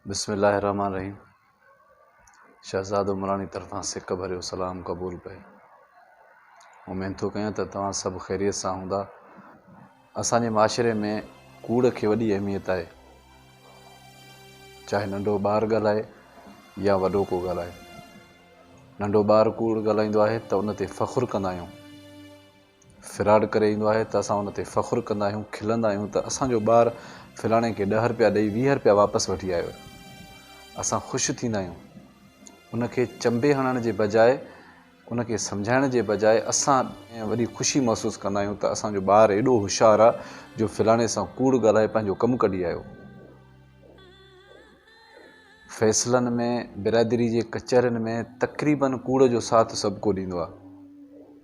بسم الله الرحمٰن الرحيم شهزاد عمراڻي طرفان سڪ ڀريو سلام قبول پئي اميد ٿو ڪيان ته توهان سڀ خيريت سان هوندا اسان جي معاشري ۾ ڪوڙ کي وڏي اهميت آهي چاهي ننڍو ٻار ڳالهائي يا وڏو ڪو ڳالهائي ننڍو ٻار ڪوڙ ڳالهائيندو آهي ته ان تي فخر ڪندا آهيون فراڊ ڪري ايندو آهي ته اسان ان تي فخر ڪندا آهيون کلندا آهيون ته اسان جو ٻار فلاڻي کي ڏهه رپيا ڏئي ويهه رپيا واپس وٺي آيو اسان خوش ٿيندا آهيون ان کي چنبي هڻڻ جي بجاء ان کي سمجهائڻ جي بجاء اسان وڏي خوشي محسوس ڪندا آهيون ته اسان جو ٻار ايڏو هوشيار آهي جو فلاڻي سان ڪوڙ ڳالهائي پنهنجو ڪم ڪڍي آيو. فيصلن ۾ برادري جي ڪچهرين ۾ تقريباً ڪوڙ جو ساٿ سڀڪو ڏيندو آهي.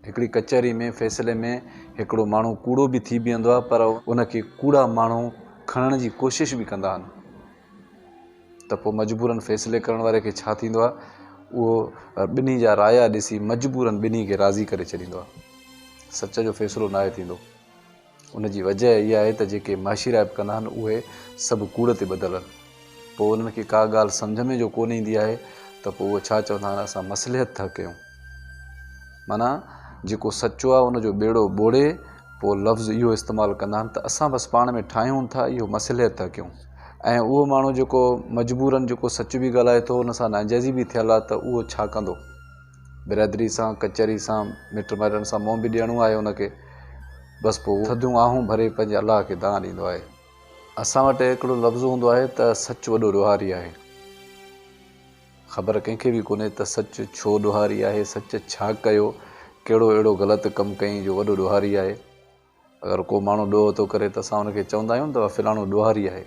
هڪڙي ڪچهري ۾ فيصلي ۾ هڪڙو ماڻهو ڪوڙو به ٿي بيهندو آهي پر ان کي ڪوڙا ماڻهو کڻڻ جي ڪوشش به ڪندا آهن ته پوء مجبوراً فيصلي ڪرڻ واري کي ڇا ٿيندو آهي اهو ٻنهي جا رايا ڏسي مجبوراً ٻنهي کي راضي ڪري ڇڏيندو آهي. سچ جو فيصلو ناهي ٿيندو. ان جي وجهه اها آهي ته جيڪي معاشي رائپ ڪندا آهن اهي سڀ ڪوڙ تي ٻڌل آهن. پوء انهن کي ڪا ڳالهه سمجهه ۾ جو ڪونه ايندي آهي ته پوء اهي ڇا چوندا آهن اسان مصلحت ٿا ڪيون. معنيٰ جيڪو سچو آهي ان جو ٻيڙو ٻوڙي پوء لفظ اهو استعمال ڪندا آهن ته اسان بس پاڻ ۾ ٺاهيون ٿا اهو مصلحت ٿا ڪيون ۽ اهو ماڻهو جيڪو مجبورن جيڪو سچ به ڳالهائي ٿو ان سان ناجائزي به ٿيل آهي ته اهو ڇا ڪندو. برادري سان ڪچهري سان مٽ مائٽن سان منهن به ڏيڻو آهي ان کي بس پوء هو ٿڌيون آهون ڀري پنهنجي الله کي دانهن ڏيندو آهي اسان وٽ هڪڙو لفظ هوندو آهي ته سچ وڏو ڏوهاري آهي خبر ڪنهن کي به ڪونهي ته سچ ڇو ڏوهاري آهي سچ ڇا ڪيو ڪهڙو اهڙو غلط ڪم ڪيائين جو وڏو ڏوهاري آهي. اگر ڪو ماڻهو ڏوهه ٿو ڪري ته اسان ان کي چوندا آهيون ته فلاڻو ڏوهاري آهي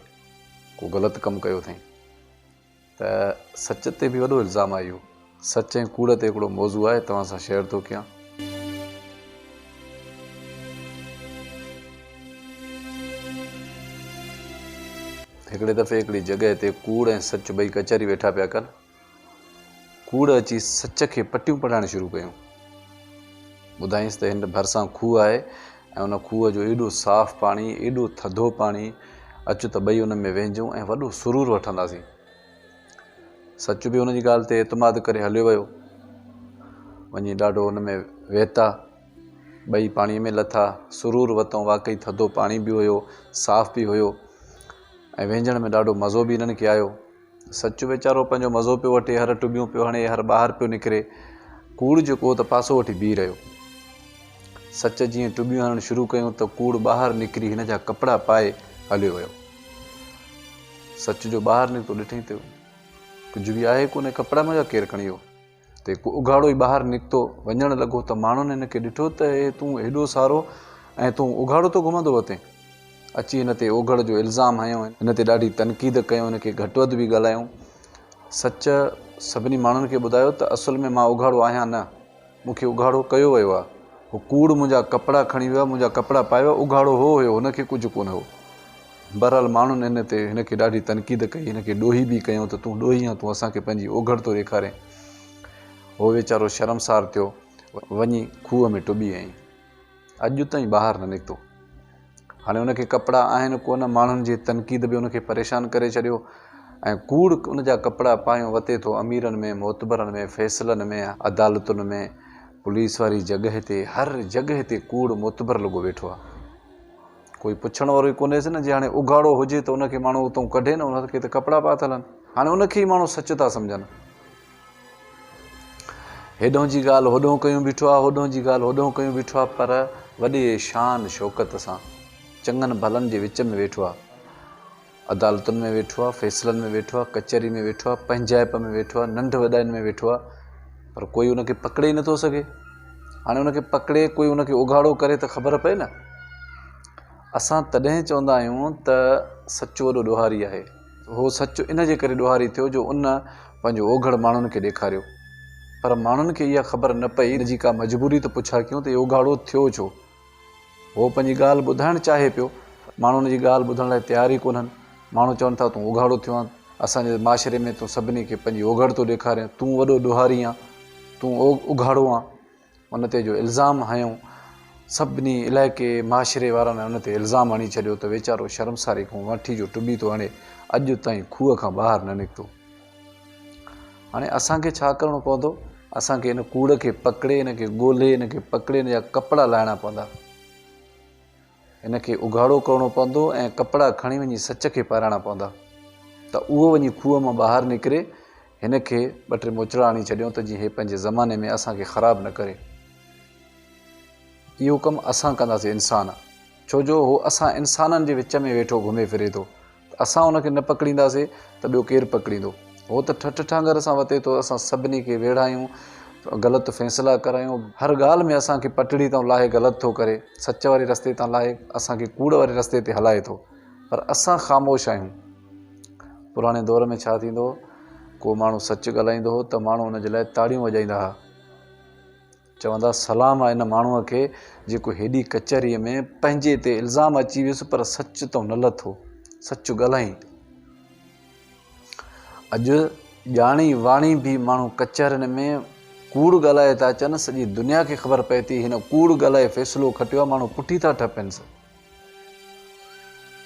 ڪو غلط ڪم ڪيو اٿئي ته سچ تي به وڏو الزام آهي اهو سچ ۽ ڪوڙ تي هڪڙو موضوع آهي توهان سان شيئر ٿو ڪيان هڪڙي دفعي هڪڙي جڳهه تي ڪوڙ ۽ سچ ٻئي ڪچهري ويٺا پيا ڪن ڪوڙ اچي سچ کي پٽيون پڙهائڻ شروع ڪيون. ٻڌائينس ته هن ڀرسان کوهه آهي ۽ ان کوهه جو ايڏو صاف پاڻي، ايڏو ٿڌو پاڻي، اچ ته ٻئي ان ۾ ويهجون ۽ وڏو سرور وٺنداسين. سچ به ان جي ڳالهه تي اعتماد ڪري هليو ويو. وڃي ڏاڍو ان ۾ ويتا. ٻئي پاڻيء ۾ لٿا، سرور وتئون، واقعي ٿڌو پاڻي به هيو، صاف به هيو ۽ ويهجڻ ۾ ڏاڍو مزو به هنن کي آيو. سچ ويچارو پنهنجو مزو پيو وٺي هر ٽٻيون پيو هڻي هر ٻاهر پيو نڪري ڪوڙ جيڪو هو ته پاسو وٺي بيهي رهيو سچ جيئن ٽٻيون هڻڻ شروع ڪيون ته ڪوڙ ٻاهر نڪري هن جا ڪپڙا پائي هليو ويو سچ جو ٻاهر نڪتو ڏٺئي ته ڪجهه به آهي ڪونه ڪپڙا منهنجا ڪير کڻي ويو تي ڪو اگهاڙو ئي ٻاهر نڪتو وڃڻ لڳو ته ماڻهن هن کي ڏٺو ته هي تون هيڏو سارو ۽ تون اگهاڙو ٿو گهمندو وتين؟ اچي هن تي اوگهڙ جو الزام هنيو. هن تي ڏاڍي تنقيد ڪيو هن کي گهٽ وڌ به ڳالهايو. سچ سڀني ماڻهن کي ٻڌايو ته اصل ۾ مان اگهاڙو آهيان نه. مون کي اگهاڙو ڪيو ويو آهي. هو ڪوڙ منهنجا ڪپڙا کڻي ويو آهي منهنجا ڪپڙا پائي ويو آهي اگهاڙو هو هيو هن کي ڪجهه ڪونه هو. بهرحال ماڻهن ان تي هن کي ڏاڍي تنقيد ڪئي، هن کي ڏوهي به ڪيو ته تون ڏوهي آهين، تون اسان کي پنهنجي اوگهڙ ٿو ڏيکارين. هو ويچارو شرمسار ٿيو. وڃي کوهه ۾ ٽٻي ۽ اڄ تائين ٻاهر نه نڪتو. هاڻي ان کي ڪپڙا آهن ڪونه، ماڻهن جي تنقيد به ان کي پريشان ڪري ڇڏيو ۽ ڪوڙ ان جا ڪپڙا پايون وتي ٿو اميرن ۾ معتبرن ۾ فيصلن ۾ عدالتن ۾ پوليس واري جڳهه تي هر جڳهه تي ڪوڙ معتبر لڳو ويٺو آهي. ڪوئي پڇڻ وارو ئي ڪونهيس نه جي هاڻي اگهاڙو هجي ته ان کي ماڻهو اتئون ڪڍي نه ان کي ته ڪپڙا پاتل آهن هاڻي ان کي ئي ماڻهو سچ ٿا سمجهن هيڏهون جي ڳالهه هوڏهون ڪيون بيٺو آهي هوڏهون جي ڳالهه هوڏهون ڪيون بيٺو آهي پر وڏي شان شوڪت سان چڱن ڀلن جي وچ ۾ ويٺو آهي عدالتن ۾ ويٺو آ، فيصلن ۾ ويٺو آ، ڪچهري ۾ ويٺو آ، پنهنجائپ ۾ ويٺو آ، ننڍ وڏائين ۾ ويٺو آ، پر ڪوئي ان کي پڪڙي ئي نٿو سگهي. هاڻي ان کي پڪڙي، ڪوئي ان کي اگهاڙو ڪري ته خبر پئي نه. اسان تڏهن چوندا آهيون ته سچ وڏو ڏوهاري آهي. اهو سچ ان جي ڪري ڏوهاري ٿيو جو ان پنهنجو اوگهڙ ماڻهن کي ڏيکاريو. پر ماڻهن کي اها خبر نه پئي، ان جي ڪا مجبوري ته پڇا ڪيون ته هي اگهاڙو ٿيو ڇو؟ هو پنهنجي ڳالهه ٻڌائڻ چاهي پيو، ماڻهو هن جي ڳالهه ٻڌڻ لاء تيار ئي ڪونهن. ماڻهو چون ٿا، تون اوگهاڙو ٿيو آهين، اسان جي معاشري ۾ تون سڀني کي پنهنجي اوگهڙ ٿو ڏيکارين، تون وڏو ڏوهاري آهين، تون اوگهاڙو آهين. ان تي جو الزام هنيو، سڀني علائقي، معاشري وارن ان تي الزام هڻي ڇڏيو ته ويچارو شرمساري کان وڻٺي جو ٽٻي ٿو هڻي، اڄ تائين کوهه کان ٻاهر نه نڪتو. هاڻي اسان کي ڇا ڪرڻو پوندو؟ اسان کي ان ڪوڙ کي پڪڙي، ان کي ڳولهي، ان کي پڪڙي ان جا ڪپڙا لاهڻا پوندا. ان کي اگهاڙو ڪرڻو پوندو ۽ ڪپڙا کڻي وڃي سچ کي پارائڻا پوندا ته اهو وڃي کوهه مان ٻاهر نڪري هن کي ٻه ٽي موچڙا هڻي ڇڏيون ته جيئن هي پنهنجي زماني ۾ اسان کي خراب نه ڪري. اهو ڪم اسان ڪنداسين انسان ڇو جو هو اسان انسانن جي وچ ۾ ويٺو گهمي ڦري ٿو. اسان ان کي نه پڪڙينداسي ته ٻيو ڪير پڪڙيندو. هو ته ٺٺ ٺانگر سان وتي ٿو اسان سڀني کي ويڙهايون غلط فيصلا ڪرايون. هر ڳالهه ۾ اسان کي پٽڙي تان لاهي غلط ٿو ڪري. سچ واري رستي تان لاهي اسان کي ڪوڙ واري رستي تي هلائي ٿو. پر اسان خاموش آهيون. پراڻي دور ۾ ڇا ٿيندو هو ڪو ماڻهو سچ ڳالهائيندو هو ته ماڻهو ان جي لاء تاڙيون وڄائيندا ها. چوندا سلام آ ان ماڻهوء کي جيڪو هيڏي ڪچهريء ۾ پنهنجي تي الزام اچي ويس پر سچ تون نه لٿو سچ ڳالهائين اڄ ڄاڻي واڻي به ماڻهو ڪچهرين ۾ ڪوڙ ڳالهائي ٿا اچن سڄي دنيا کي خبر پئي ٿي هن ڪوڙ ڳالهائي فيصلو کٽيو آ ماڻهو پٺي ٿا ٺهه پين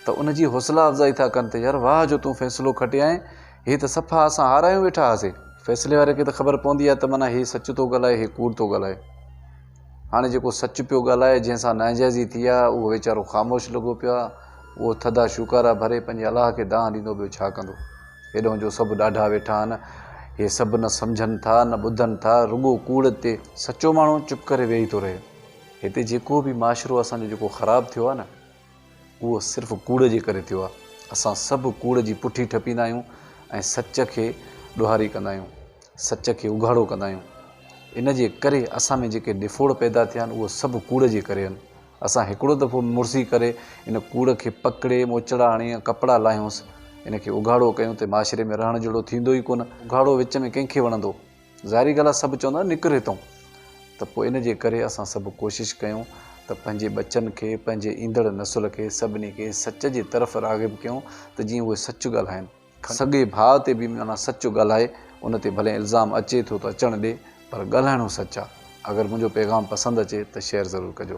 ته ان جي حوصلا افزائي ٿا ڪن ته يار واهه جو تون فيصلو کٽيائين، هي ته صفا اسان هارايون ويٺا هئاسين. فيصلي واري کي ته خبر پوندي آهي ته معنيٰ هي سچ ٿو ڳالهائي هي ڪوڙ ٿو ڳالهائي. هاڻي جيڪو سچ پيو ڳالهائي جنهن سان ناانجائزي ٿي آهي اهو ويچارو خاموش لڳو پيو آهي. اهو ٿڌا شوڪارا ڀري پنهنجي الاهه کي دانهن ڏيندو ٻيو ڇا ڪندو. هيڏهون جو سڀ ڏاڍا ويٺا آهن. هي سڀ نه سمجهن ٿا نه ٻڌن ٿا رڳو ڪوڙ تي. سچو ماڻهو چپ ڪري ويهي ٿو رهي. هتي جيڪو به معاشرو اسان جو جيڪو خراب ٿيو آهي نه اهو صرف ڪوڙ جي ڪري ٿيو آهي اسان سڀ ڪوڙ جي پٺي ٺپيندا آهيون ۽ سچ کي ڏوهاري ڪندا آهيون سچ کي اگهاڙو ڪندا آهيون ان جي ڪري اسان ۾ جيڪي ڏڦوڙ پيدا ٿيا آهن اهو سڀ ڪوڙ جي ڪري آهن اسان هڪڙو دفعو مڙسي ڪري ان ڪوڙ کي پڪڙي موچڙا هڻي ۽ ڪپڙا لاهيونس ان کي اگهاڙو ڪيون ته معاشري ۾ رهڻ جهڙو ٿيندو ئي ڪونه اگهاڙو وچ ۾ ڪنهن کي وڻندو. ظاهري ڳالهه آهي سڀ چوندا آهن نڪر هتئون ته پوء ان جي ڪري اسان سڀ ڪوشش ڪيون ته پنهنجي ٻچن کي پنهنجي ايندڙ نسل کي سڀني کي سچ جي طرف راغب ڪيون ته جيئن اهي سچ ڳالهائن. سڳي ڀاء تي به معنيٰ سچ ڳالهائي ان تي ڀلي الزام اچي ٿو ته اچڻ ڏي پر ڳالهائڻو سچ آهي. اگر منهنجو پيغام پسند اچي ته شيئر ضرور ڪجو.